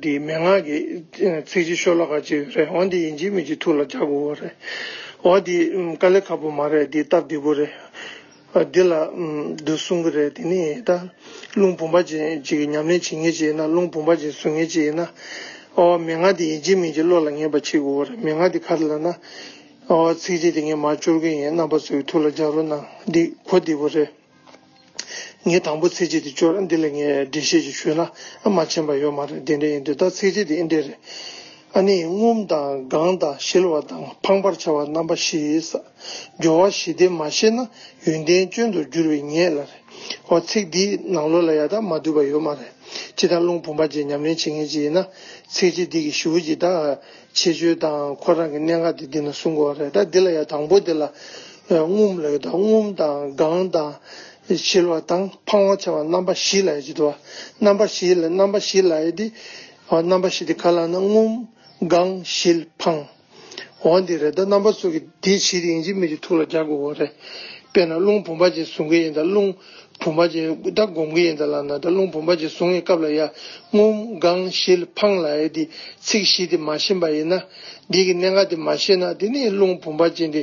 འདིའི་མན་ངག་གི་ཚིག་གཅིག་ཤོ་ལོ་ཀ་གཅིག་རེད་འོ་འདི་ཡིན་གཅིག་མིན་གཅིག་ཐུགས་ལ་འཇགས་དགོས་བ་རེད་འོ་འདི་དཀའ་ལས་ཁག་པོ་མ་རེད་འདི་སྟབས་བདེ་བོ་རེད་འདི་ལ་འདི་གསུང་གི་རེད་དེ་ནས་ད་རླུང་བུམ་པ་ཅན་གཅིག་གི་ཉམས་ལེན་བྱེད་ངེས་ཅིག་ཡིན་ན་རླུང་བུམ་པ་ཅན་བཟོ་ངེས་ཅིག་ཡིན་ན་འོ་མན་ངག་འདི་ཡིན་གཅིག་མིན་གཅིག་བློ་ལ་ངེས་པ་བྱེད་དགོས་བ་རེད་མན་ངག་འདི་ག་རེ་ལ་ན་འོ་ཚིག་གཅིག་དེ་ངས་མར་སྤྱོར་གི་ཡིན་རྣམ་པ་ཚོས་ཐུགས་ལ་འཇགས་རོགས་གནང་འདི་གོ་བདེ་བོ་རེད། ངས་དང་པོ་ཚིག་གཅིག་དེ་བཅོས་ལ་འདི་ལ་ངས་འགྲེལ་བཤད་ཅིག་ཞུས་ན་ཨ་མ་མཁྱེན་པ་ཡོད་མ་རེད་དེ་འདྲ་ཡིན་དུས་ད་ཚིག་གཅིག་དེ་ཨེ་འགྲིག་རེད། ཨ་ནི་ངུམ་དང་དགང་དང་ཞིལ་བ་དང་འཕང་པར་བྱ་བ་རྣམ་པ་བཞི་ཡོད་ས། སྦྱོར་བ་བཞི་དེ་མ་ཤེས་ན་ཡོན་ཏན་སྐྱོན་དུ་འགྱུར་བའི་ངེས་ལ་རེད། འོ་ཚིག་འདིས་ནང་ལོག་ལ་ཡ་ད་མ་བསྡུས་པ་ཡོད་མ་རེད། སྤྱི་དང་རླུང་བུམ་པ་བཅས་ཉམས་ལེན་བྱེད་མཁན་ཅིག་ཡིན་ན་ཚིག་གཅིག་འདི་གིས་ཞུ་གི་ད། ཆེ་བརྗོད་དང་ཁོ་རང་གི་གནད་འགག་དེ་འདི་ན་གསུང་དགོས་བ་རེད་ད་འདི་ལ་ཡང་དང་པོ་དེ་ལ་རྔུབ་ལ་ཡོད་ད་རྔུབ་དང་དགང་དང། བྱིལ་བ་དང་འཕང་བ་ཆེ་བ་རྣམ་པ་བཞི་ལ་ཡོད་ཅེས་བསྡུ་བ་རྣམ་པ་བཞི་ལ་རྣམ་པ་བཞི་ལ་ཡོད་དེ། རྣམ་པ་བཞི་དེ་ག་ལ་ན་རྔུབ། དགང། བྱིལ། འཕང། བ་འདི་རེད་ད་རྣམ་པ་སོ་གི་དེ་བྱིས་རིང་བྱིས་མིག་གི་ཐུགས་ལ་རྒྱག་དགོས་བ་རེད་དཔེར་ན་རླུང་བུམ་པ་ཅན་བཟུང་གི་ཡིན་ད་རླུང། བུམ་པ་ཅན་ད་སྒོམ་གི་ཡིན་ད་ལ་ན་ད་རླུང་བུམ་པ་ཅན་བཟུང་བའི་སྐབས་ལ་ཡ་ངུམ་གང་ཞིལ་འཕང་ལ་ཡ་དེ་ཚིག་བཞི་དེ་མ་ཤེས་པ་ཡིན་ན། འདིའི་གནད་འགག་དེ་མ་ཤེས་ན་དེ་ནི་རླུང་བུམ་པ་ཅན་དེ།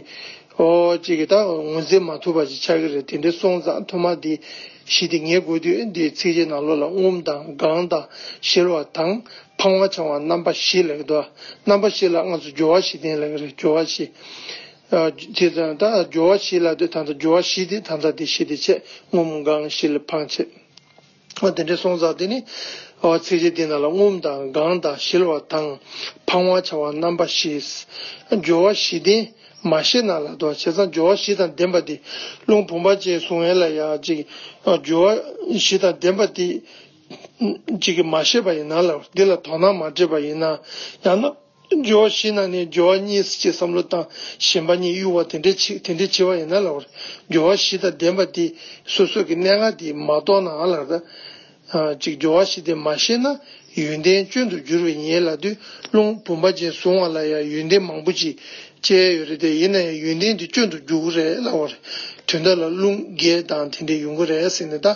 ཨོ་ཅེས་གི་ད་ངོས་འཛིན་མ་ཐུབ་པ་ཞིག་ཆགས་ཀྱི་རེད་དེ་འདྲའི་སོང་ཙང་ཐོག་མར་དེ་བཞི་དེ་ངེས་དགོས་དུས་འདིའི་ཚིག་བཞི་ནང་ལོགས་ལ་ངུམ་དང་གང་དང་ཞིལ་བ་དང་འཕང་བ་འཆང་བ་རྣམ་པ་བཞི་ལེགས་འགྲོ་རྣམ་པ་བཞི་ལ་ང་ཚོ་སྦྱོར་བ་བཞི་ལྡན་ལེགས་རེད་སྦྱོར་བ་བཞི། དེ་དང་དང་སྦྱོར་བ་བཞི་ལ་དེ་དང་དང་སྦྱོར་བ་བཞི་སྟེ་དང་དང་དེ་བཞི་སྟེ་ཆད་ངོམ་དགང་བཞི་ལ་འཕང་བྱེད། དེ་འདྲའི་སོང་ཙག་དེ་ནི། ཚིགས་བཅད་འདི་རྣམས་ལ་ངོམ་དང་དགང་དང་གཞིལ་བ་དང་འཕང་བར་བྱ་བ་རྣམ་པ་བཞིས། སྦྱོར་བ་བཞི་ལྡན་མ་ཤེས་ན་ལ་དོག་བྱེད་ཙང་སྦྱོར་བ་བཞི་དང་ལྡན་པ་དེ་རླུང་བུམ་པ་ཅན་གཟུང་བས་ལ་ཡང་ཅིག། སྦྱོར་བ་བཞི་དང་ལྡན་པ་དེ། ཅིག་མ་ཤེས་པ་ཡིན་ན་ལ་འདི་ལ་དོགས་སྣང་མ་འདྲེས་པ་ཡིན་ན་ཡང་ན། སྦྱོར་བ་བཞི་ནང་ནས་སྦྱོར་བ་གཉིས་སྲིད་ཀྱི་བསམ་བློ་དང་ཞེན་པ་གཉིས་གཡུལ་བ་དེ་འདྲའི་ཆེ་དེ་འདྲའི་ཆེ་བ་ཡིན་ན་ལགས་པར་སྦྱོར་བ་བཞི་དང་ལྡན་པ་དེ་སོ་སོ་གི་གནད་འགག་དེ་མ་རྟོགས་ནའང་ལགས། ད་ཅིག་སྦྱོར་བ་བཞི་དེ་མ་ཤེས་ན་ཡོན་ཏན་སྐྱོན་དུ་འགྱུར་བས་ཉེས་ལ་དུས་རླུང་བུམ་པ་ཅན་བཟུང་བ་ལ་ཡང་ཡོན་ཏན་མང་པོ་ཅིག་སྤྱད་ཡོད་རེད་དེ་ཡིན་ན་ཡང་ཡོན་ཏན་དེ་སྐྱོན་དུ་འགྱུར་གི་རེད་ལགས་པར་དུས་འདའ་ལ་རླུང་རྒས་དང་དེ་འདྲས་ཡོང་གི་རེད་ཟེར་ནས་ད་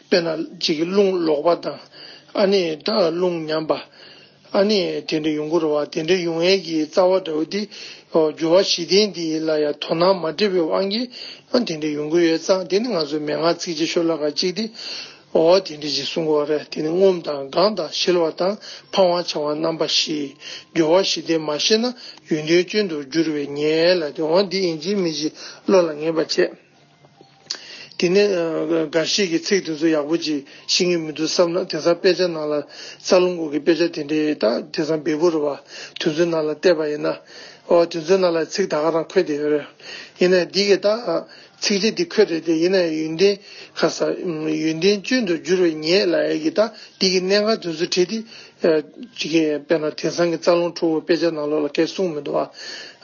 དཔེ་ན་ཅིག་རླུང་ལོག་པ་དང་ཨ་ནི་ད་རླུང་ཉམས་པ། ཨ་ནི་དེ་འདྲ་ཡོང་གི་རེད་བ་དེ་འདྲ་ཡོང་ཡས་ཀྱི་རྩ་བ་འདྲ་བོ་འདི་འགྱུར་བ་བཞི་ལྡན་འདི་ལ་ཡང་དོ་སྣང་མ་བྲེལ་བའི་དབང་གིས་དེ་འདྲ་ཡོང་གི་ཡོད་ཙང་དེ་ནི་ང་ཚོའི་མན་ངག་ཚིག་བྱེད་ཤོ་ལ་ཁ་ཅིག་དེ་འོ་དེ་འདྲ་ཞིག་གསུང་གི་བ་རེད་དེ་ནི་ངོམ་དང་དགང་དང་བཞེལ་བ་དང་འཕང་བ་འཕྱང་བ་རྣམ་པ་བཞི་འགྱུར་བ་བཞི་ལྡན་མ་ཤེས་ན་ཡུན་དོན་སྐྱོན་དུ་འགྱུར་བས་ཉལ་ལ་དེ་འོ་འདི་ཡིན་གྱི་མི་གཞི་བློ་ལ་ངེས་པ་བྱེད། དེ་ནས་འགའ་ཞིག་གིས་ཚིག་དེ་ཚོ་ཡག་པོ་ཅིག་ཤེས་ངེས་མི་འདུག་བསམ་ན་དེང་སང་དཔེ་ཆ་ནང་ལ་རྩ་རླུང་སྒོ་གི་དཔེ་ཆ་དེ་འདྲའི་དག་དེང་སང་བེ་པོ་རུ་བ་དེ་ཚོའི་ནང་ལ་བལྟས་པ་ཡིན་ན། ཨོ་དེ་ཚོའི་ནང་ལ་ཚིག་དག་ག་རང་འཁོད་དེ་རེད། ཡིན་ནའི་འདི་གི་དག་ཚིག་གཅིག་འདི་འཁོད་རེད་དེ་ཡིན་ནའི་ཡོན་ཏན་ཁ་ས། ཡོན་ཏན་སྤྱོད་དུ་འགྱུར་བའི་ངེད་ལ་ཡ་གི་དག་འདི་གི་གནད་འགག་དེ་ཚོ་བྲིས་ཏེ། ཅི་གི་དཔེར་ན་དེང་སང་གི་རྩ་རླུང་ཁྲོ་བོའི་དཔེ་ཆ་ནང་ལོགས་ལ་ཁའི་གསུང་མི་འདུག་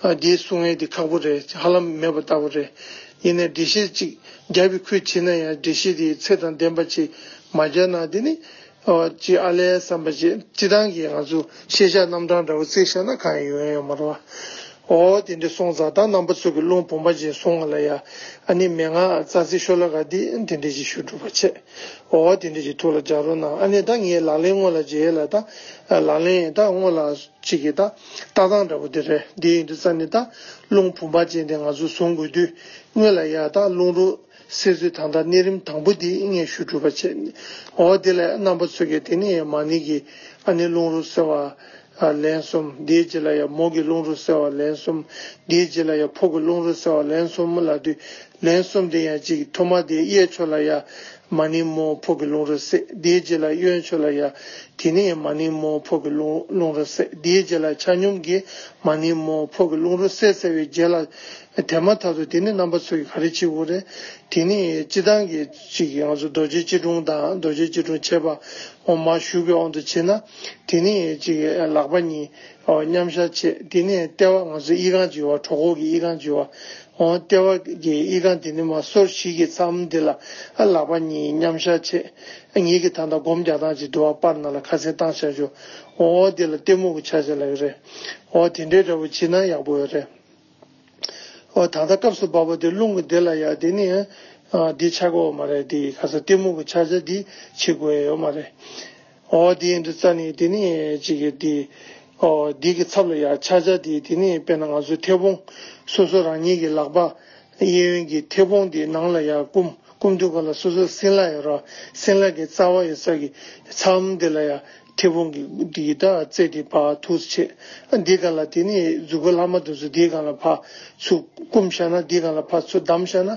ཨ། འདིའི་གསུང་ངན་འདི་ཁག་པོ་རེད་ཧ་ལམ་མེད་པ་ལྟ་བུ་རེད། ཡིན་ནའི་འགྲེལ་བཤད་ཅིག་རྒྱབ་པའི་ཁུལ་བྱེད་ན་ཡང་འགྲེལ་བཤད་དེའི་ཚད་དང་ལྡན་པ་ཅིག་མ་རྒྱབ་ན་དེ་ནི། ཅི་ཨ་ལས་བསམ་པ་ཅི་སྤྱི་དང་གི་ང་ཚོ་ཤེས་བྱ་རྣམ་གྲངས་འདྲ་བོ་བརྩེགས་བཞག་ན་གང་ཡང་ཡོན་ཡོད་མ་རོ། ཨོ་དེ་འདྲའི་སོང་ཙང་ད་རྣམ་པ་ཚོ་གི་རླུང་བུམ་པ་ཅན་སོང་ང་ལ་ཡ། ཨ་ནི་མན་ངག་རྩ་ཚིག་ཤོ་ལ་ག་འདི་དེ་འདྲས་ཅིག་ཞུ་སྒྲུབ་པ་བྱེད། འོ་བ་དེ་འདྲས་ཀྱི་ཐུགས་ལ་སྦྱར་རོགས་གནང་ཨ་ནེ་ད་ངའི་ལག་ལེན་དངོས་ལ་མཇལ་ལ་ད། ལག་ལེན་ད་དངོས་ལ་ཅིག་གི་ད་ལྟ་སྟངས་འདྲ་པོ་དེ་རེད་དེ་ཡིན་དུས་ས་ནི་ད་རླུང་བུམ་པ་ཅན་དེ་ང་ཚོས་བཟུང་དགོས་དུས་དངོས་ལ་ཡ་ད་རླུང་རོ་སེར་ཚོས་ད་ལྟ་གནས་རིམ་དང་པོ་དེ་སྔས་ཤུ་གྲུབ་པ་བྱས་འོ་བ་དེ་ལས་རྣམ་པ་ཚོས་ཀྱི་དེ་ནི་མ་ནི་གི་ཨ་ནེ་རླུང་རོ་སེར་བ། ལ་ལན་གསུམ། དེའི་རྗེས་ལ་ཡང་མོག་གི་རླུང་རོ་བསལ་བ་ལན་གསུམ། དེའི་རྗེས་ལ་ཡང་ཕོག་གི་རླུང་རོ་བསལ་བ་ལན་གསུམ་མོ་ལ་བསྡུ། ལན་གསུམ་དེ་ཡང་གཅིག་ཐོག་མར་དེའི་གཡས་ཕྱོགས་ལ་ཡང། མ་ནིང་མོ་ཕོག་གི་རླུང་རོ་བསལ། དེའི་རྗེས་ལ་གཡོན་ཕྱོགས་ལ་ཡང། དེ་ནས་ཡང་མ་ནིང་མོ་ཕོག་གི་རླུང་རོ་བསལ། དེའི་རྗེས་ལ་ཆ་སྙོམས་ཀྱིས་མ་ནིང་མོ་ཕོག་གི་རླུང་རོ་བསལ་བསལ་བའི་རྗེས་ལ། དེ་མ་ཐག་ཏུ་དེ་ནི་རྣམ་པ་ཚོགས་ཀྱི་ག་རེ་ཆིག་བུ་རེད། དེ་ནི་སྤྱི་དང་གི། ཞིག་གི་ངང་ཚུལ་རྡོ་རྗེ་སྐྱིལ་ཀྲུང་དང་རྡོ་རྗེ་སྐྱིལ་ཀྲུང་ཕྱེད་པ་འོག་མར་བཞུགས་པའི་དབང་དུ་བྱས་ན། དེ་ནས་ཅིག་ལག་པ་གཉིས་མཉམ་བཞག་བྱས་དེ་ནས་ལྟེ་བ་ངང་ཚུལ་དབྱིག་རྐང་བྱེ་བ་གྲོ་གོག་གི་དབྱིག་རྐང་བྱེ་བ། ལྟེ་བ་གི་དབྱིག་རྐང་དེ་ནི་མ་སོར་བཞི་གི་མཚམས་དེ་ལ་ལག་པ་གཉིས་མཉམ་བཞག་བྱས། ངེད་ཀྱིས་ད་ལྟ་སྒོམ་རྒྱག་སྟངས་ཅིག་འགྲོ་བ་པར་ནང་ལ་ཁ་སེང་བཏང་བཞག་བྱོས། དེ་ལ་གཏི་མུག་གི་ཆ་བྱས་ལ་ཡོད་རེད། དེ་འདྲའི་འདྲ་པོ་བྱེད་ན་ཡག་པོ་ཡོད་རེད། ཨོ་ད་ལྟ་སྐབས་སུ་བབས་པ་དེ་རླུང་གི་སྡེ་ལ་ཡ་དེ་ནི་འདི་ཆགས་པའོ་མ་རེད་དེ་ག་ས་གཏི་མུག་གི་ཆགས་བྱ་འདི་བྱེད་དགོས་ཡའོ་མ་རེད། ཨོ་དེ་ཡིན་དུ་རྩ་ནི་དེ་ནི་ཅིག་གི་དེ་ཨོ་དེ་གི་ཚབ་ལ་ཡ་ཆགས་བྱ་དེ་དེ་ནི་དཔེར་ན་ང་ཚོའི་མཐེ་བོང་སོ་སོ་རང་ཉིད་ཀྱི་ལག་པ་གཡས་གཡོན་གྱི་མཐེ་བོང་དེ་ནང་ལ་ཡ་བསྐུམ་བསྐུམ་དུས་ག་ལ་སོ་སོའི་སྲིན་ལག་ཡ་རོ་སྲིན་ལག་གི་རྩ་བ་ཡོད་ས་གི་མཚམས་དེ་ལ་ཡ་མཐེ་བོང་གི་སྐུ་དེ་ཡི་དྭགས་རྩེ་དེ་བར་ཐུགས་སུ་ཆེ། འདི་གང་ལ་དེ་ནི་གཟུགས་སྐུ་ལྷག་མ་དུ་ཚུལ་འདི་གང་ལ་བར་ཚུགས་བསྐུམ་བཞག་ན་འདི་གང་ལ་བར་ཚུགས་བསྡམས་བཞག་ན།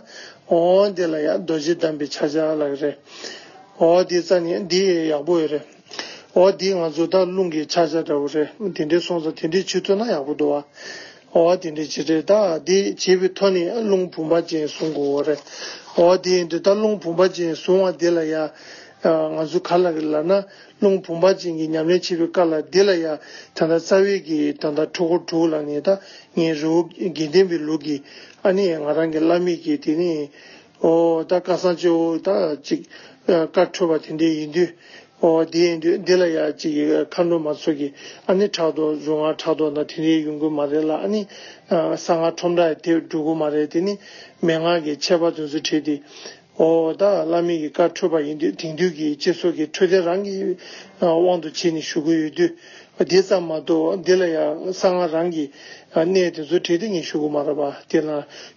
འོ་འདི་ལ་ཡང་རྡོ་རྗེ་བསྡམས་པའི་ཕྱག་རྒྱ་ལགས་རེ། འོ་འདི་རྩ་ནི་འདི་ཡི་ཡག་པོ་འོད་རེ། འོ་འདི་ང་ཚོ་སྟག་ལུང་གི་ཕྱག་རྒྱ་འདྲ་བོ་རེ་དེ་འདྲའི་སོང་ཙང་དེ་འདྲའི་ཆུ་ཐོན་ན་ཡག་པོ་འདུག་བ། འོ་དེ་འདྲའི་བྱེད་འདྲའི་རྟ་འདི་བྱེད་པའི་ཐོ་ནི་རླུང་བུམ་པ་ཅན་བཟུང་དགོས་འོ་རེ། འོ་འདི་འདི་ལྟར་རླུང་བུམ་པ་ཅན་བཟུང་བ་འདི་ལ་ཡང། ང་ཚོ་ག་ལ་རེ་ལགས་ན། རླུང་བུམ་པ་ཅན་གྱི་ཉམས་ལེན་བྱེད་པའི་སྐབས་ལ་འདི་ལ་ཡང་ད་ལྟ་རྩ་བའི་གི་ད་ལྟ་ཁྲོ་ཁོ་དྲུག་ལ་ནི་ད་ངའི་རི་བོ་དགེ་ལྡན་པའི་ལུགས་ཀྱི་ཨ་ནི་ང་རང་གི་བླ་མེད་ཀྱི་དེ་ནི་ཨོ་ད་བཀའ་གསང་སྤྱི་བོ་ད་ཅིག་བཀའ་འཁྲོལ་བ་དེ་འདི་ཡིན་དུས་ཨོ་དེ་ཡིན་དུས་འདི་ལ་ཡང་ཅིག་མཁའ་འགྲོ་མ་ཚོགས་ཀྱི་ཨ་ནི་ཕྲག་དོག་རྫུན་སྔགས་ཕྲག་དོག་ན་དེ་འདྲའི་ཡོང་དགོས་མ་རེད་ལ་ཨ་ནི་གསང་སྔགས་ཁྲོམ་ར་དེ་འགྲོ་དགོས་མ་རེད་དེ་ནི་མན་ངག་གི་འཆད་པ་དོན་ཚུལ་བྲིས་ཏེ། ཨོ་ད་བླ་མེད་ཀྱི་བཀའ་འཕྲོད་པ་ཡིན་དུས་དེང་དུས་ཀྱི་སྤྱི་ཚོགས་ཀྱི་འཕྲོད་བསྟེན་རང་གི་དབང་དུ་བྱས་ནས་ཞུ་གི་ཡོད་དུས། དེ་ཙམ་མ་གཏོགས་འདི་ལ་ཡང་གསང་སྔགས་རང་གི་གནས་དེ་ཚོ་བྲིས་ཏེ་ངས་ཞུ་གི་མ་རེད་པ་དེ་ན་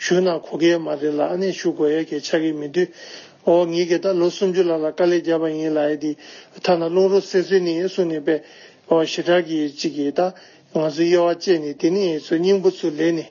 ཞུས་ན་གོ་གི་མ་རེད་ལ་ཨ་ནེ་ཞུ་དགོས་ཡ་གི་ཆགས་གི་མི་འདུག་ཨོ་ངས་གི་ད་ལོ་སུམ་ཅུ་ལ་ལ་དཀའ་ལས་བརྒྱབ་པ་ཡིན་ལ་ཡ་དེ་ཐ་ན་རླུང་རོ་སེར་སེར་ནས་གསུང་ནས་པས་ཨོ་ཞེ་དྲག་གི་ཅིག་གི་ད་ང་ཚོའི་དབྱེ་བ་བཅད་ནས་དེ་ནས་ཚོ་སྙིང་པོ་ཚུར་ལེན་ནས།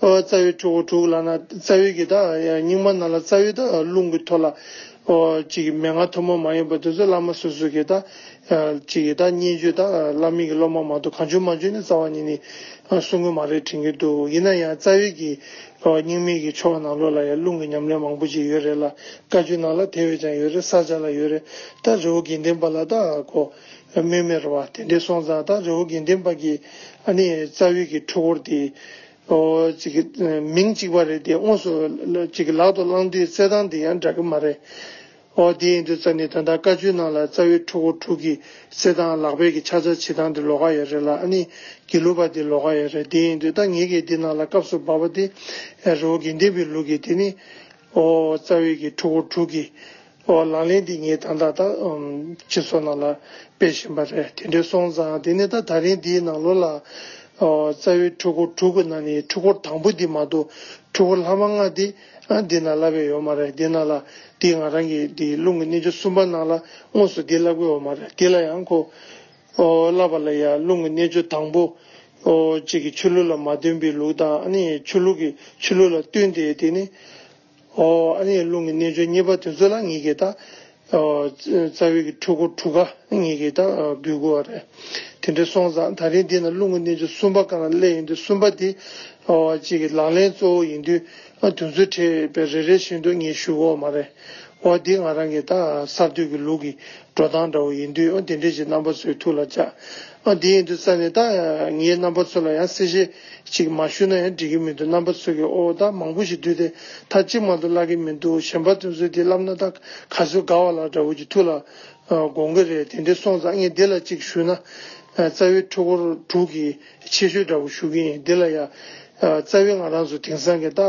རྩ་བའི་ཕྲུ་གུ་དྲུག་ལ་ན་རྩ་བའི་གི་དག་རྙིང་མ་ན་ལ་རྩ་བའི་དག་རླུང་གི་ཐོ་ལ་ཅིག་མན་ངག་ཐུན་མོང་མ་ཡིན་པ་དུས་ཚོད་བླ་མ་སོ་སོའི་གི་དག་ཅིག་གི་དག་སྙན་བརྒྱུད་དག་བླ་མིང་གི་སློབ་མ་མ་ཏོ་གང་བྱོན་མ་བྱོན་ནི་རྩ་བ་ཉིད་ནི་གསུང་དངོས་མ་རེད་དྲན་གི་འདུག་ཡིན་ན་ཡང་རྩ་བའི་གི་རྙིང་མའི་གི་ཕྱོགས་ནང་ལོགས་ལ་ཡང་རླུང་གི་ཉམས་ལེན་མང་པོ་ཅིག་ཡོད་རེད་ལ་བཀའ་བརྒྱུད་ནང་ལ་དེ་བས་ཀྱང་ཡོད་རེད་ས་ཆ་ལ་ཡོད་རེད་ད་རི་བོ་དགེ་ལྡན་པ་ལ་དག་གོ། ལ་མོས་མེར་བ་དེ་འདྲའི་སོང་ཙང་ད་རེའུ་དགེ་འདུན་པ་གི་ཨ་ནི་རྩ་དབུས་ཀྱི་ཁྲོ་བོར་དེ་མིང་གཅིག་པ་རེད་དེ་དངོས་སུ་ལག་ཏུ་བླངས་དུས་རྩེད་ཐང་དེ་ཡང་འདྲ་གི་མ་རེད། ཨོ་དེ་ཡིན་དུས་རྩ་ནི་ད་ད་དཀའ་བཅུའི་ནང་ལ་རྩ་དབུས་ཁྲོ་བོ་དྲུག་གི་རྩེད་ཐང་ལག་པས་ཀྱི་ཕྱག་རྩ་བྱེད་སྟངས་དེ་ལོ་ག་ཡ་རེད་ལ་ཨ་ནི་དགེ་ལུགས་པ་དེ་ལོ་ག་ཡ་རེད་དེ་ཡིན་དུས་ད་ངེད་ཀྱི་དེ་ནང་ལ་སྐབས་སུ་བབ་པ་དེ་རེའུ་དགེ་འདུན་པའི་ལུགས་ཀྱི་དེ་ནི་ཨོ་རྩ་དབུས་ཀྱི་ཁྲོ་བོ་དྲུག་གི། འོ་ལག་ལེན་འདི་ངས་ད་ལྟ་ད་ཁྱེད་ཚོ་ནང་ལ་སྤེལ་བཞིན་པ་རེད་དེ་འདྲས་སོང་ཙང་དེ་ནས་ད་ད་རིང་འདིའི་ནང་ལོ་ལ། རྩ་བའི་འཁྲུལ་འཁོར་དྲུག་གི་ནང་ནས་འཁྲུལ་འཁོར་དང་པོ་འདི་མ་གཏོགས་འཁྲུལ་འཁོར་ལྷག་མ་ལྔ་དེ་འདི་ནང་བསླབ་ཡས་ཡོད་མ་རེད་དེ་ནང་ལ་དེ་ང་རང་གི་དེ་རླུང་གི་གནས་བཅུ་གསུམ་པ་ནང་ལ་དངོས་སུ་དེ་བསླབ་གི་ཡོད་མ་རེད་དེ་ལ་ཡང་ཁོ། བསླབ་པ་ལ་ཡང་རླུང་གི་གནས་བཅུ་དང་པོ། གཅིག་གི་ཆོས་ལུགས་ལ་མ་བསྟུན་པའི་ལུགས་དང་ནི་ཆོས་ལུགས་ཀྱི་ཆོས་ལུགས་ལ་བསྟུན་ཏེ་དེ་ནི། ཨ་ནེའི་རླུང་གི་རྣལ་འབྱོར་གཉིས་པ་དེ་ཚོ་ལ་ངེད་ཀྱིས་དང། རྩ་བའི་གི་འཁྲུལ་འཁོར་དྲུག་ག་ངེད་ཀྱིས་དང་འབུལ་དགོས་བ་རེད། དེ་འདྲའི་སོང་ཙང་ད་རིང་འདི་ན་རླུང་གི་རྣལ་འབྱོར་གསུམ་པ་གང་ལ་སླད་ཡིན་དུས་གསུམ་པ་དེ་གཅིག་གི་ལག་ལེན་གཙོ་བོ་ཡིན་དུས་དོན་ཚུལ་འཕྲད་པའི་རེ་རེ་བཞིན་དུ་ངས་ཞུ་དགོས་བ་མ་རེད། འོ་འདི་ང་རང་གི་དང་གསར་གཏོད་ཀྱི་ལུགས་ཀྱི་འགྲོ་སྟངས་འདྲ་བོ་ཡིན་དུས་དེ་འདྲའི་ཞིག་རྣམ་པ་ཚོའི་ཐུགས་ལ་བཅག། ཨ་དེ་ཡིན་དུས་ས་ནས་ད་ངའི་རྣམ་པ་ཚོ་ལ་ཡང་གསལ་བཤད་ཅིག་མ་ཞུས་ན་ཡང་འགྲིག་གི་མི་འདུག་རྣམ་པ་ཚོས་ཀྱི་ཨོ་ད་མང་པོ་ཞིག་བསྡུས་ཏེ་མཐའ་གཅིག་མ་གཏོགས་བཀླག་གི་མི་འདུག་གཞན་པ་ཚོས་ཚུལ་དེ་བསླབ་ན་ད་ག་ཚོད་དགའ་བ་ལགས་འདྲ་བོ་ཀྱི་ཐུགས་ལ་དགོངས་ཀྱི་རེད་དེ་འདྲས་སོང་ཙང་ངས་འདི་ལ་ཅིག་ཞུས་ན་རྩ་བའི་འཕྲུལ་འཁོར་དྲུག་གི་ཆེ་ཤོས་འདྲ་བོ་ཞུ་གི་ཡིན་འདི་ལ་ཡ། རྩ་བའི་ང་རང་སུ་དེང་སང་གི་ད་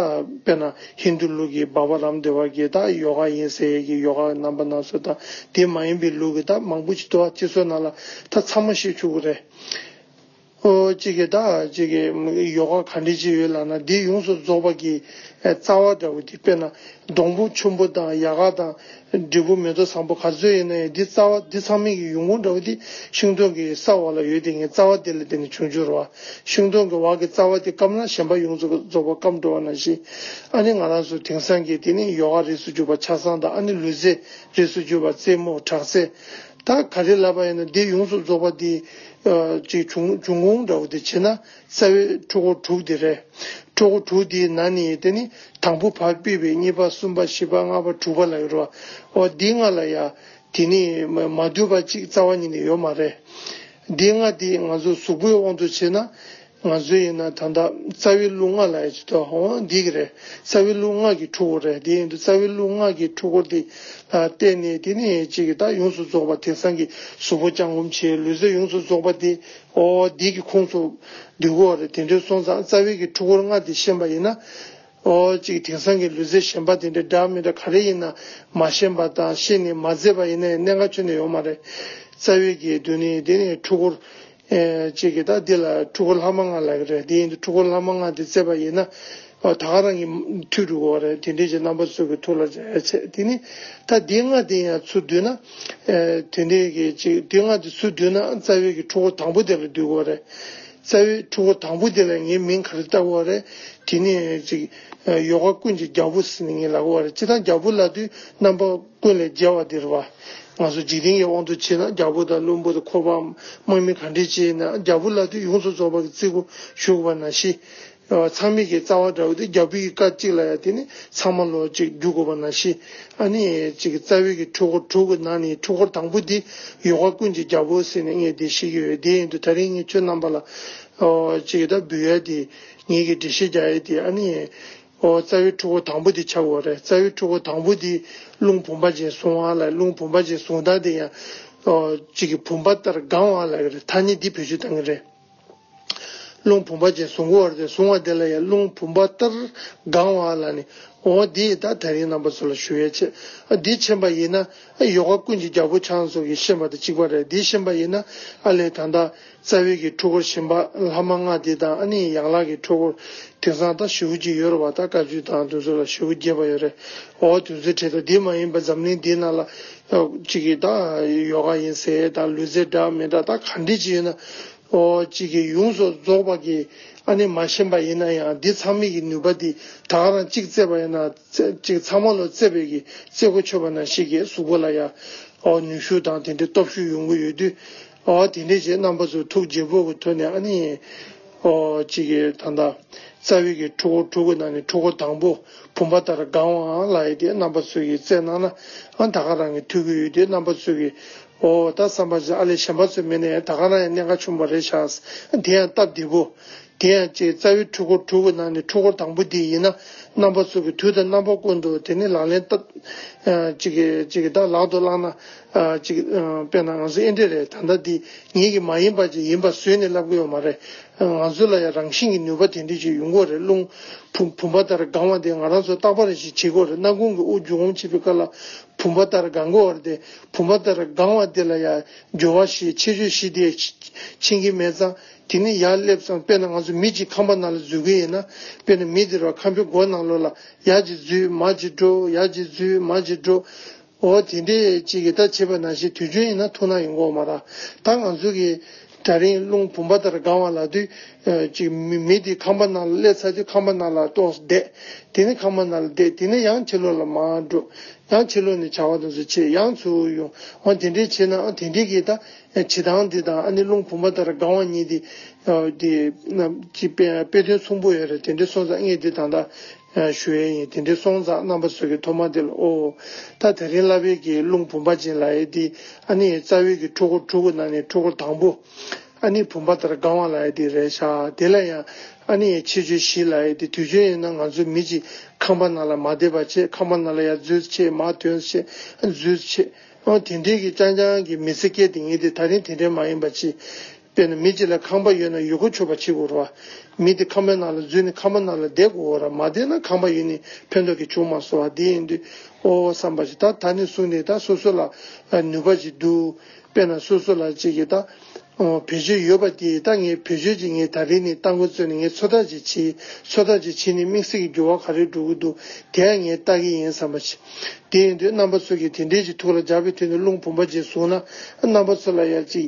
པེ་ན་ཧིན་དུ་ལུགས་ཀྱི་བཱ་བཱ་རམ་དེ་བར་གྱི་ད་ཡོ་ག་ཡིན་ཟེ་ཡས་ཀྱི་ཡོ་ག་རྣམ་པ་ན་སུ་ད་དེ་མ་ཡིན་པའི་ལུགས་ཀྱི་ད་མང་པོ་ཅིག་ཏུ་བ་ཅིག་སོ་ན་ལ་ད་ཚང་མ་ཤེས་ཆུག་གོ་རེ་ཨོ་ཅིག་གི་ད་ཅིག་གི་ཡོ་ག་ག་འདྲི་ཅིག་ཡོད་ལགས་ན་འདི་ཡོངས་སུ་རྫོགས་པ་གྱི་རྩ་བ་འདྲ་བོ་དེ་པེ་ན་སྡོང་པོ་ཆུན་པོ་དང་ཡ་ག་དང། འབྲས་བུ་མེ་ཏོག་བཟང་པོ་ག་ཚོད་ཡིན་ན་ཡང་འདི་རྩ་བ་འདི་ཚང་མིན་གྱི་ཡོང་ཁུངས་འདྲ་བོ་དེ་ཤིང་སྡོང་གི་ས་འོག་ལ་ཡོད་དེ་ངས་རྩ་བ་དེ་ལ་བརྟེན་ནས་ཆུང་བྱུང་རོ། ཤིང་སྡོང་གི་འོག་གི་རྩ་བ་དེ་སྐམ་ན་གཞན་པ་ཡོངས་སུ་རྫོགས་པ་སྐམ་འགྲོ་བ་ན་བཞིན། ཨ་ནི་ང་རང་སུ་དེང་སང་གི་དེ་ནི་ཡོ་ག་རིས་སུ་གྱུར་པ་ཆགས་སྡང་དང་ཨ་ནི་ལུས་རྩལ་རིས་སུ་གྱུར་པ་རྩེད་མོ་དྲག་རྩལ། ད་ག་རེ་ལབ་པ་ཡིན་ན་འདི་ཡོངས་སུ་རྫོགས་པ་འདི་ཅིག་འབྱུང་ཁུངས་འདྲ་བོ་དེ་བྱེད་ན་རྩ་བའི་ཁྲོ་བོ་དྲུག་དེ་རེད། ཁྲོ་བོ་དྲུག་དེའི་ནང་ནས་དེ་ནི་དང་པོ་བར་སྤེལ་བའི་གཉིས་པ་གསུམ་པ་བཞི་པ་ལྔ་པ་དྲུག་པ་ལ་ཡོད་རོ། འོ་འདི་ལྔ་ལ་ཡ། དེ་ནི་མ་བསྡུས་པ་གཅིག་རྩ་བ་ཉིད་ནས་ཡོད་མ་རེད། འདི་ལྔ་དེ་ང་ཚོ་གཟུགས་པོའི་དབང་དུ་བྱས་ན། ང་ཚོའི་ཡིན་ན་ད་ལྟ་རྩ་བའི་རླུང་ལྔ་ལ་ཡ་བྱེད་དོ་འོ་འདི་གི་རེད། རྩ་བའི་རླུང་ལྔ་གི་ཁྲོ་བོ་རེད་དེ་ཡིན་དུ་རྩ་བའི་རླུང་ལྔ་གི་ཁྲོ་བོ་དེ་ལ་བརྟེན་ནས་དེ་ནི་གཅིག་གི་ད་ཡོངས་སུ་རྫོགས་པ་དེང་སང་གི་གཟུགས་པོ་བརྐྱང་བསྐུམ་བྱས་ལུས་རྩལ་ཡོངས་སུ་རྫོགས་པ་དེ་ཨོ་འདི་གི་ཁུངས་སུ་འདུས་གོ། རེད་དེ་འདྲའི་སོང་ཙང་རྩ་བའི་གི་ཕྲུ་གུར་ལྔ་དེ་ཤེས་པ་ཡིན་ན། ཨོ་གཅིག་དེང་སང་གི་ལུས་རྩལ་ཞན་པ་དེ་འདྲ་འདྲ་མི་འདྲ་ག་རེ་ཡིན་ན་མ་ཤེས་པ་དང་ཤེས་ནས་མ་མཛད་པ་ཡིན་ན་ཡང་གནད་འགག་ཆོད་ནས་ཡོང་མ་རེད། རྩ་བའི་གི་དུ་ནི་དེ་ནི་ཕྲུ་གུར། གཅིག་གི་ད་འདི་ལ་ཕྲུ་གུར་ལྷག་མ་ལྔ་ལ་གི་རེད་དེ་ཡིན་དུ་ཕྲུ་གུར་ལྷག་མ་ལྔ་དེ་བཙས་པ་ཡིན་ན། ད་ག་རང་གི་མཐུས་འགྲུབ་བ་རེད་དེ་འདྲའི་ཆེ་རྣམ་པ་ཚོས་ཀྱི་ཐུགས་ལ་བྱས་ཚད་དེ་ནི་ད་དེ་སྔ་དེ་ཡང་ཚུར་བསྡུས་ན་དེ་འདྲའི་གི་ཅིག་དེ་སྔ་དེ་ཚུར་བསྡུས་ན་རྩ་བའི་གི་ཕྲུ་གུ་དང་པོ་དེ་ལ་འདུས་གོ་རེད་རྩ་བའི་ཕྲུ་གུ་དང་པོ་དེ་ལ་ངའི་མིང་ག་རེ་བཏགས་གོ་རེད་དེ་ནི་ཅིག་ཡོ་ག་ཀུན་གྱི་རྒྱལ་པོ་ཟེར་ནི་ངའི་ལ་གོ་རེད་ཅི་དང་རྒྱལ་པོ་ལ་དུས་རྣམ་པ་ཀུན་ལས་རྒྱལ་བ་དེར་བ་ང་ཚོ་འཇིག་རྟེན་གྱི་དབང་དུ་བྱས་ན་རྒྱལ་པོ་དང་བློན་པོ་དང་འཁོར་བའམ་དམག་མི་ག་འདྲས་བྱས་ན་རྒྱལ་པོ་ལ་དུས་ཡོངས་སུ་རྫོགས་པ་གི་བརྩི་སྒོ་ཞུགས་པ་ན་ཤི་ཚང་མིག་གི་རྩ་བ་འདྲ་བོ་དེ་རྒྱ་བོད་ཀྱི་སྐད་གཅིག་ལ་ཡང་དེ་ནི་ཚང་མ་ལོ་གཅིག་རྒྱུག་དགོས་པ་ན་ཤི་ཨ་ནི་གཅིག་རྩ་བའི་གི་འཁྲུལ་འཁོར་དྲུག་གི་ནང་ནས་འཁྲུལ་འཁོར་དང་པོ་དེ་ཡོ་ག་ཀུན་གྱི་རྒྱ་བོད་ཟེར་ནས་ངས་དེ་ཤེས་ཀྱི་ཡོད་དེ་ཡིན་དུ་ད་རིང་ངས་ཁྱོད་རྣམ་པ་ལ་གཅིག་ད་འབུལ་ཡ་དེ་ངེད་ཀྱི་འགྲེལ་བཤད་རྒྱག་ཡ་དེ་ཨ་ནི་རྩ་བའི་འཁྲུལ་འཁོར་དང་པོ་དེ་ཆགས་དགོས་རེད་རྩ་བའི་འཁྲུལ་འཁོར་དང་པོ་དེ་རླུང་བུམ་པ་ཅན་སོང་བ་ལ་རླུང་བུམ་པ་ཅན་སོང་ད་དེ་ཡང་གཅིག་གི་བུམ་པ་ལྟར་སྒང་བ་ལ་ཐ་སྙད་འདི་བེད་སྤྱོད་བཏང་གི་རེད། རླུང་བུམ་པ་ཅན་ཟུང་གི་བར་དུ་བཟུང་བ་དེ་ལ་ཡང་རླུང་བུམ་པ་ལྟར་དགང་བ་ལ་ནི། འོ་འདི་ཡི་དག་དལ་གྱི་རྣམ་པ་སུ་ལ་ཞུ་བའི་ཕྱིར། འདི་ཕྱིན་པ་ཡིན་ན། ཡོ་ག་ཀུན་གྱི་རྒྱལ་པོ་ཆང་སོགས་ཀྱིས་ཕྱིན་པ་དང་གཅིག་པ་རེད་འདི་ཕྱིན་པ་ཡིན་ན། ཨ་ལས་དང་དང། རྩ་བའི་གི་འཁྲུལ་འཁོར་ཞིམ་པ་ལྷག་མ་ལྔ་དེ་དང་ཨ་ནི་ཡང་ལག་གི་འཁྲུལ་འཁོར། དེང་སང་དང་བཞི་བོ་གཅིག་ཡོད་རུ་བ་དང་དཀའ་བཅུ་དང་དུ་མཚོ་ལ་བཞི་བོ་བརྒྱད་པ་ཡོད་རེད་འོ་དུ་མཚོའི་གྲས་དང་འདི་མ་ཡིན་པ་འཛམ་གླིང་འདི་ན་ལ། གཅིག་གིས་ད་ཡོ་ག་ཡིན་ཟེར་ད་ལུས་རྩལ་འདྲ་མི་འདྲ་ད་ག་འདྲི་བྱེད་ཡོད་ན། ཨོ་གཅིག་གིས་ཡོངས་སུ་རྫོགས་པ་གིས་ཨ་ནི་མ་ཤེས་པ་ཡིན་ན་ཡང་འདི་ཚང་མིག་གི་ནུས་པ་འདི་ད་ག་རང་གཅིག་བཙས་པ་ཡིན་ན་གཅིག་ཚང་མ་ལོ་བཙས་པའི་གིས་བཙས་གོ་ཆོད་པ་ན་ཤེས་ཀྱི་གཟུགས་པོ་ལ་ཡ་ཨོ་ནུས་ཤུགས་དང་དེ་འདྲའི་སྟོབས་ཤུགས་ཡོང་གི་ཡོད་དུས། ཨ་ཨ་དེ་འདྲས་ཀྱི་རྣམ་པ་ཚོ་ཐུགས་དགྱེས་པོ་གི་དོན་ནས་ཨ་ནི། ཨོ། ཅིག་གི་ད་ལྟ། རྩ་བའི་གི་ཕྲུ་གུ་ཕྲུ་གུ་ནང་ནས་ཕྲུ་གུ་དང་པོ་བུམ་པ་ལྟར་དགང་བའང་ལ་ཨའི་དེ་རྣམ་པ་ཚོས་ཀྱི་བཙལ་གནང་ན་ཨ་ད་ག་རང་གི་ཐུགས་ཀྱི་ཡུལ་དེ་རྣམ་པ་ཚོས་ཀྱི། ཨོ། ད་བསམ་པ་ཅིག་ཨ་ལས་གཞན་པ་ཚོས་མིན་ནའི་ད་ག་རང་ཡང་གནད་འགག་ཆུང་བ་རེད་ཤག། དེ་ཡང་སྟབས་བདེ་པོ། དེ་ཡང་ཅིག་རྩ་བའི་ཕྲུ་གུ་ཕྲུ་གུ་ནང་ནས་ཕྲུ་གུ་དང་པོ་དེ་ཡིན་ན་རྣམ་པ་ཚོས་ཀྱི་དུས་ད་རྣམ་པ་ཀུན་ཏུ་དེ་ནི་ལག་ལེན་བསྟར། ཅིག་གི་ཅིག་གི་ད་ལག་ཏུ་བླངས་ན། ཅིག། དཔེར་ན་ང་ཚོ་ཨེ་འདྲས་རེད་ད་ལྟ་འདི་ངེད་ཀྱི་མ་ཡིན་པ་ཅིག་ཡིན་པ་བཟོས་ནས་ལབ་གི་ཡོད་མ་རེད། ང་ཚོ་ལ་ཡང་རང་བཞིན་གྱི་ནུས་པ་དེ་འདྲས་ཅིག་ཡོད་མཁོ་རེད་རླུང་བུམ་པ་ལྟར་དགང་བ་དེ་ང་རང་ཚོ་རྟག་པར་རེ་ཞིག་བྱེད་དགོས་རེད་རྣ་ཁུང་གི་དབུགས་རྒྱུ་འོང་བྱེད་པའི་སྐབས་ལ་བུམ་པ་ལྟར་དགང་དགོས་བར་དེ་བུམ་པ་ལྟར་དགང་བ་དེ་ལ་ཡ་འགྱོ་བ་ཞེས་ཆེ་ཆོས་བཞི་དེ་མཆིན་གྱི་མེད་ཙང་དེ་ནི་ཡར་སླེབས་ཙང་དཔེར་ན་ང་ཚོ་མི་ཅིག་ཁང་པ་ནང་ལ་འཛུལ་གི་ཡིན་ན་དཔེར་ན་མི་དེ་རུ་ཁང་པའི་སྒོ་ནང་ལོགས་ལ་ཡར་ཅིག་འཛུལ་མར་ཅིག་འགྲོ་ཡར་ཅིག་འཛུལ་མར་ཅིག་འགྲོ། འོ་དེ་འདྲའི་ཅིག་གིས་ད་བྱིས་པ་ན་ཞིག་དུས་རྒྱུན་ཡིན་ན་ཐུག་ན་ཡོང་གོང་མ་ར་ད་ང་ཚོ་གི་དྲ་རིང་རླུང་བུམ་པ་ལྟར་སྒང་བ་ལ་དུས་ཅིག་མི་དེ་ཁང་པ་ནང་ལ་སླེབས་ཚར་དུས་ཁང་པ་ནང་ལ་ལྟོགས་སུ་བསྡད་དེ་ནི་ཁང་པ་ནང་ལ་བསྡད་དེ་ནི་ཡང་ཕྱི་ལོག་ལ་མ་འགྲོ་ཡང་ཕྱི་ལོག་ནས་བྱ་བ་དང་ཚུལ་ཆེད་ཡང་ཚུར་ཡོང་འོ་དེ་འདྲའི་བྱེད་ནའང་དེ་འདྲའི་གིས་ད་བྱིས་ཐང་དེ་དང་ཨ་ནི་རླུང་བུམ་པ་ལྟར་སྒང་བ་གཉིས་དེ་དེ་རྣམས་ཀྱི་དཔེ་དོན་མཚུངས་པོ་ཡོད་རེད་དེ་འདྲའི་སོ་ཚ་རྔེག་དེ་དང་ད། ཞུ་ཨེ་ཡིན་དེ་འདྲའི་སོང་ཙང་རྣམ་པ་ཟོས་གི་ཐོ་མ་དེ་ལ་ཨོ། ད་དེ་རིང་གླ་བེ་གི་རླུང་བུམ་པ་ཅན་ལ་ཨེ་དི་ཨ་ནི་རྩ་བའི་གི་ཕྲུ་གུ་ཕྲུ་གུ་ན་ནི་ཕྲུ་གུ་དང་པོ། ཨ་ནི་བུམ་པ་ལྟར་དགའ་བ་ལ་ཨེ་དི་རེད་ཤག་དེ་ལ་ཡང་ཨ་ནི་ཡའི་ཕྱི་ཆོས་བཞི་ལ་ཨེ་དི་དུས་ཆོས་ཡིན་ན་ང་ཚོ་མི་གཅིག་ཁམས་པ་ན་ལ་མ་དེ་པ་ཆེ་ཁམས་པ་ན་ལ་ཡ་རྫུས་ཆེ་མ་དོན་ཆེ་རྫུས་ཆེ། ཨོ་དེ་འདྲའི་གི་ཅང་ཅང་གི་མི་ཚེ་སྐྱེལ་དེ་ངེས་དེ་ད་རིང་དེ་འདྲའི་མ་ཡིན་པ་ཅི། དཔེར་ན་མི་གཅིག་ལ་ཁང་པ་ཡོད་ན་ཡུལ་གོ་ཆོད་པ་བྱེད་དགོས་རོ། མི་དེ་ཁང་པའི་ནང་ལ་འཛུལ་ནས་ཁང་པ་ནང་ལ་བསྡད་དགོས་འོ་ར་མ་བསྡད་ན་ཁང་པ་ཡུལ་ནི་ཕན་ཐོགས་ཀྱི་བྱུང་མ་སོ་བ་དེ་ཡིན་དུས་ཨོ་བསམ་པ་ཅིག་ད་ད་ནི་གསུངས་ནས་ད་སོ་སོ་ལ་ནུས་པ་ཅིག་འདུག་དཔེར་ན་སོ་སོ་ལ་ཅིག་གིས་ད་བེད་སྤྱོད་ཡོད་པ་དེ་ད་ངས་བེད་སྤྱོད་ཅིག་ངས་ད་རེ་ནི་རྟ་མགོ་བཙོས་ནས་ངས་ཚོད་ལྟ་ཅིག་བྱེད་ཚོད་ལྟ་ཅིག་བྱེད་ནས་དམིགས་བསལ་གྱི་འགྱུར་བ་ག་རེ་འགྲོ་གི་འདུག་དེ་ཡང་ངས་ལྟ་གི་ཡིན་བསམ་པ་ཅིག་དེ་ཡིན་དུས་རྣམ་པ་ཚོས་ཀྱིས་དེ་འདྲས་ཀྱི་ཐུགས་ལ་འཇགས་པའི་དུས་ནས་རླུང་བུམ་པ་ཅིག་བཟུང་ན་རྣམ་པ་ཚོ་ལ་ཡང་ཅིག།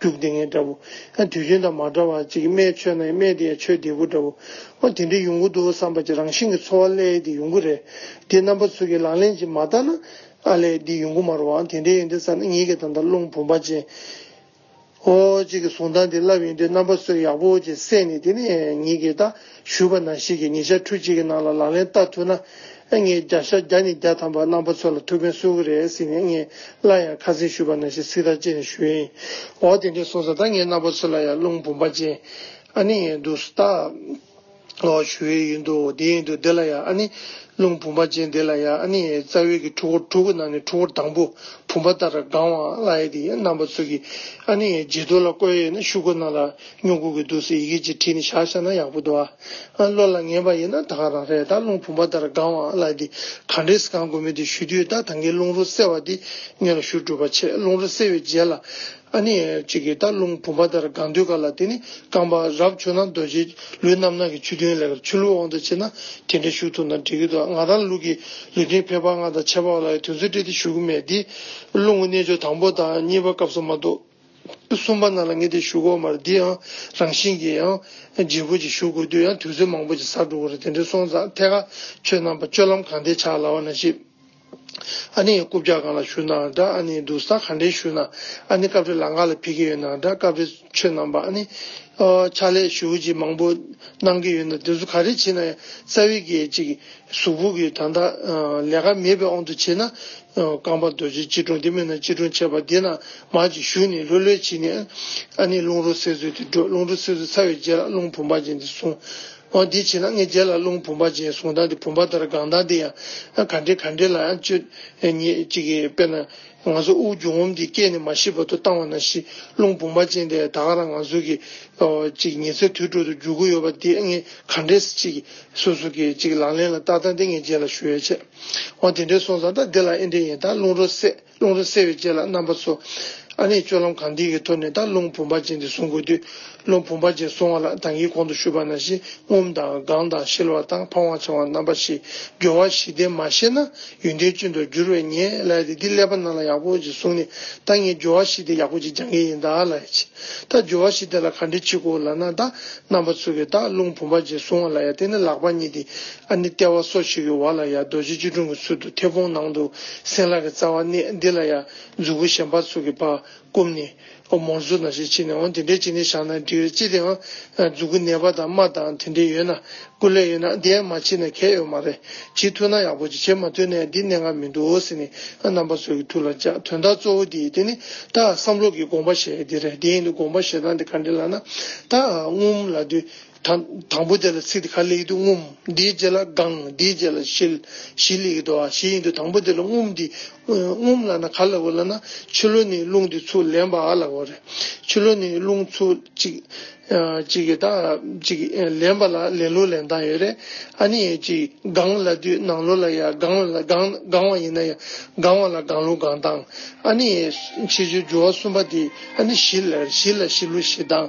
རྒྱུག་དེ་ངན་འདྲ་བོ། ཡང་དུས་རྒྱུན་དང་མ་འདྲ་བར་ཅིག་རྨས་ཆོད་ན་ཡང་རྨས་དེ་ཡང་ཆོད་བདེ་པོ་འདྲ་བོ། ཨོ་དེ་འདྲའི་ཡོང་གི་འདུག་བསམ་པ་ཅིག་རང་བཞིན་གྱི་འཚོ་བ་ཀླད་དེ་ཡོང་གི་རེད། དེ་རྣམ་པ་ཚོ་གི་ལག་ལེན་ཅིག་མ་བསྟར་ན། ཨ་ལས་འདི་ཡོང་གི་མ་རུང་ཨང་དེ་འདྲའི་ཡོང་དུས་བསམ་ན་ངེད་ཀྱི་ད་ལྟ་རླུང་བུ་འབའ་ཅན། ཨོ། ཅིག་གི་གཟུང་སྟངས་དེ་བསླབ་ཡོང་དུས་རྣམ་པ་ཚོས་ཡག་པོ་ཅིག་བསད་ནས་དེ་ནས་ངེད་ཀྱི་ད། ཞུས་པ་ན་ཞིག་གིས་ཉིན་ཞག་ཁྲུ་གཅིག་གི་ནང་ལ་ལག་ལེན་བསྟར་ཐུབ་ན། ངས་བརྒྱ་ཞག་བརྒྱ་ནས་བརྒྱ་ཐམ་པ་རྣམ་པ་ཚོ་ལ་ཐུགས་ཕན་གསོ་གི་རེད་ཟེར་ནས་ངས་སླར་ཡང་ཁ་གསེང་ཞུས་པ་ན་ཞིག་ཚིག་ཐག་བཅད་ནས་ཞུས། འོ་དེ་འདྲས་སོང་ཙང་ད་ངས་རྣམ་པ་ཚོ་ལ་ཡང་རླུང་བུམ་པ་ཅན། ཨ་ནི་ངས་འདུག་སྟ། ཨོ་ཞུ་ཨེ་ཡིན་འདུག་འོ་དེ་ཡིན་འདུག་དེ་ལ་ཡང་ཨ་ནི། རླུང་བུམ་པ་ཅན་དེ་ལ་ཡང་ཨ་ནི། རྩ་བའི་གི་ཕྲུ་གུ་ཕྲུ་གུ་ནང་ནས་ཕྲུ་གུར་དང་པོ་བུམ་པ་ལྟར་དགང་བའང་སླ་ཡེ་དེ་ཡིན་རྣམ་པ་ཚོ་གིས་ཨ་ནི་ངས་རྗེས་ཐོ་ལ་བཀོད་ཡེ་ན་ཤུ་གུ་ནང་ལ། སྨྱུ་གུ་གི་འདུག་སའི་ཡི་གེ་གཅིག་བྲིས་ནས་བཞག་ཤག་ན་ཡག་པོ་འདུག་ཨ། བློ་ལ་ངེས་པ་ཡིན་ན་ད་ག་རང་རེད་ད་རླུང་བུམ་པ་ལྟར་དགའ་བའང་བླ་འདི་ག་འདྲའི་ཟི་ཁང་དགོས་མེད་དུ་ཞུ་དུས་ད་ད་གའི་རླུང་རོ་སེལ་བ་འདི་སྙོན་ལ་ཞུ་གྲུབ་པ་ཆེ་རླུང་རོ་སེལ་བའི་རྗེས་ལ། ཨ་ནི། ཅིག་གིས་ད་རླུང་བུམ་པ་ལྟར་དགའ་འདུས་ག་ལ་དེ་ནི་རྐང་པ་རབ་ཆུ་ན་རྡོ་རྗེ་ལུས་རྣམ་སྣང་གི་ཆུ་རྒྱུན་ལས་ཀར་ཆུ་ལུད་དབང་དུ་བྱེད་ན་དེ་འདྲའི་ཞུ་ཐུབ་ན་འགྲིག་གི་འདུག་ང་རང་ལུག་གི་ལུས་སྟེང་ཕལ་པ་ལྔ་དང་ཆད་པ་བ་ལ་ཡང་དུས་ཚོད་སྤྲད་དེ་ཞུ་གི་མེད་དེ། རླུང་གི་རྣལ་འབྱོར་དང་པོ་དང་གཉིས་པ་སྐབས་སུ་མ་འདུག། གསུམ་པ་རྣམས་ལ་ངེས་ཏེ་ཞུགས་གོ་མར་འདི་ཡང་རང་བཞིན་གྱིས་ཡང་རྗེས་བུ་གཅིག་ཞུགས་དགོས་དུས་ཡང་དུས་ཚོད་མང་པོ་ཅིག་ཟག་འགྲོ་གི་རེད་དེ་འདྲའི་སོང་ཙང་ཐད་ཀ་ཆོས་རྣམ་པ་སྤྱོད་ལམ་གང་དེ་ཆགས་སླ་བ་ན་ཤི་ཨ་ནི་ཡང་རྐུབ་བཀྱག་གང་ལ་ཞུགས་ནའང་འདྲ་ཨ་ནི་འདུག་ས་གང་དྲན་ཞུགས་ནའང་ཨ་ནི་སྐབས་རེ་ལག་འགག་ལ་ཕེབས་ཀྱི་ཡོད་ནའང་འདྲ་སྐབས་རེ་ཆོས་རྣམ་པ་ཨ་ནི་ཕྱག་ལས་ཞུགས་གཅིག་མང་པོ་གནང་གི་ཡོད་ནའང་དེ་ཚོ་ག་རེ་བྱེད་ན་ཡང་རྩ་བའི་གེགས་གཅིག་གཟུགས་ཕུག་གི་དང་དག་ལས་ཀ་མེད་པའི་དབང་དུ་བྱས་ན། རྐང་པ་རྡོ་རྗེ་སྐྱིལ་ཀྲུང་དེ་མེད་ན་སྐྱིལ་ཀྲུང་ཆད་པ་དེ་ན་མར་གྱིས་ཞུགས་ནས་ལྷོད་ལྷོད་བྱས་ནས། ཨ་ནི་རླུང་རོ་སེར་ཚོས་དེ་བསྒྲོད་རླུང་རོ་སེར་ཚོས་ཚ་བའི་རྗེས་ལ་རླུང་བུམ་པ་ཅན་དེ་བཟུང། འོ་དེ་བྱས་ན་ལྔའི་རྗེས་ལ་རླུང་བུམ་པ་ཅན་བཟུང་ད་དེ་བུམ་པ་ལྟར་དགང་ད་དེ་ཡང་ག་འདྲེ་ག་འདྲེ་ལ་ཡང་སྤྱོད། ཉེས་གཅིག་གིས་དཔེར་ན། ང་ཚོ་དབུགས་རྒྱུ་ངོམ་གྱི་སྐད་ནི་མ་ཤི་བར་དུ་བཏང་བ་ན་ཤི་རླུང་བུང་བ་ཅན་དེས་ད་ག་རང་ང་ཚོ་གི་ཅིག་ཉི་ཚེ་དུས་དྲུག་ཏུ་རྒྱུག་གི་ཡོད་པ་འདི་ངས་ག་འདྲས་ཅིག་སུ་སུ་གིས་ཅིག་ལག་ལེན་ལ་བསྟར་ད་འདི་ངས་རྗེས་ལ་ཞུ་ཡ་ཆད་འོང་དེ་འདྲས་སོང་ཙང་ད་འདི་ལ་ཨེ་འདྲས་ཡིན་ད་རླུང་རོ་སེ་རླུང་རོ་སེ་བའི་རྗེས་ལ་རྣམ་པ་ཚོ་ཨ་ནེ་སྤྱོད་ལམ་གང་འདི་གི་ཐོག་ནས་ད་རླུང་བུང་བ་ཅན་འདི་བཟུང་དགོས་དུས་སློབ་བུ་འབའ་ཅན་བཟུང་བ་ལ་དང་གིས་གོང་དུ་ཞུས་པ་ན་བཞི་ངོམ་དང་དགང་དང་ཤེལ་བ་དང་འཕང་བ་འཆང་བ་རྣམ་པ་བཞི་སྦྱོར་བ་བཞི་ལྡན་མ་ཤེས་ན་ཡོན་ཏན་སྤྱོད་དུ་འགྱུར་བས་ངས་ལས་དེ་འདི་ཀླད་པ་རྣམས་ལ་ཡག་པོ་ཅིག་བཟུང་ནས་ད་ངས་སྦྱོར་བ་བཞི་དེ་ཡག་པོ་ཅིག་སྦྱང་གི་ཡིན་ད་ལས་ཅི་ད་སྦྱོར་བ་བཞི་དེ་ལ་ག་འདྲི་ཅིག་གོ་ལ་ན་ད་རྣམ་པ་ཚུགས་གི་ད་རླུང་བུ་འབའ་ཅན་བཟུང་བ་ལ་ཡ་དེ་ནི་ལག་པ་གཉིས་ཏེ་ཨ་ནི་ལྟེ་བ་སོ་ཞིག་གི་འོག་ལ་ཡ་རྡོ་རྗེ་སྐྱིལ་ཀྲུང་གི་ཚུལ་དུ་མཐེ་བོང་ནང་དུ་སྲིན་ལག་གི་རྩ་བ་གནས་འདི་ལ་ཡ་མཛུབ་བུ་གཞན་པ་ཚུགས་ཀྱི་བར་བསྐུམ་ནས། ཨོ་མོར་བཟོ་ན་ཞེས་བྱས་ནས་འོང་དེ་འདྲའི་བྱས་ནས་བཞག་ན་འགྲིག་རེད་ཅི་དེའང་རྫུ་གུ་ནད་པ་དང་རྨ་དང་དེ་འདྲས་ཡོད་ན་ཀུ་ལེ་ཡོད་ན་འདི་ཡང་མ་བྱས་ན་གལ་ཡོད་མ་རེད་བྱེད་ཐུབ་ན་ཡག་པོ་བྱེད་བྱེད་མ་ཐུབ་ན་ཡང་འདི་གནད་འགག་མི་འདུག་ཟེར་ནས་རྣམ་པ་ཚོ་གི་ཐུགས་ལ་འཇགས་དོན་དག་གཙོ་བོ་འདི་ཡིན་དེ་ནི་ད་བསམ་བློ་གི་དགོངས་པ་བཤད་ཡོད་དེ་རེད་དེ་ཡིན་དུ་དགོངས་པ་བཞེས་སྟངས་དེ་ག་འདྲས་ལགས་ན་ད་སྔོན་མ་ལ་དུས་དང་པོ་དེ་ལ་ཚིག་དེ་ག་ལེགས་འདུག་ངུམ། དེའི་རྗེས་ལ་དགང། དེའི་རྗེས་ལ་བཞི། བཞི་ལེགས་འདུག་ཨ་བཞི་ཡིན་འདུག་དང་པོ་དེ་ལ་ངུམ་འདི། ངུམ་ལ་ན་ག་ལེགས་འོ་ལ་ན། ཆུ་ལོ་ནི་རླུང་འདི་ཚུགས་ལེན་པ་ཨ་ལེགས་འོ་རེད། ཆུ་ལོ་ནི་རླུང་ཚུགས་གཅིག། གཅིག་གི་དང་གཅིག་ལེན་པ་ལ་ལེན་ལོ་ལེན་སྟངས་ཡོད་རེད། ཨ་ནི་ཡང་གཅིག་དགང་ལ་དུས་ནང་ལོ་ལ་ཡ་དགང་ལ་དགང་བ་ཡིན་ན་ཡ་དགང་བ་ལ་དགང་ལོ་དགང་སྟངས། ཨ་ནི་ཕྱི་ཆུ་རྒྱུ་བ་གསུམ་པ་དེ་ཨ་ནི་བཞི་ལེགས་རེད་བཞི་ལ་བཞི་ལོ་བཞི་སྟངས།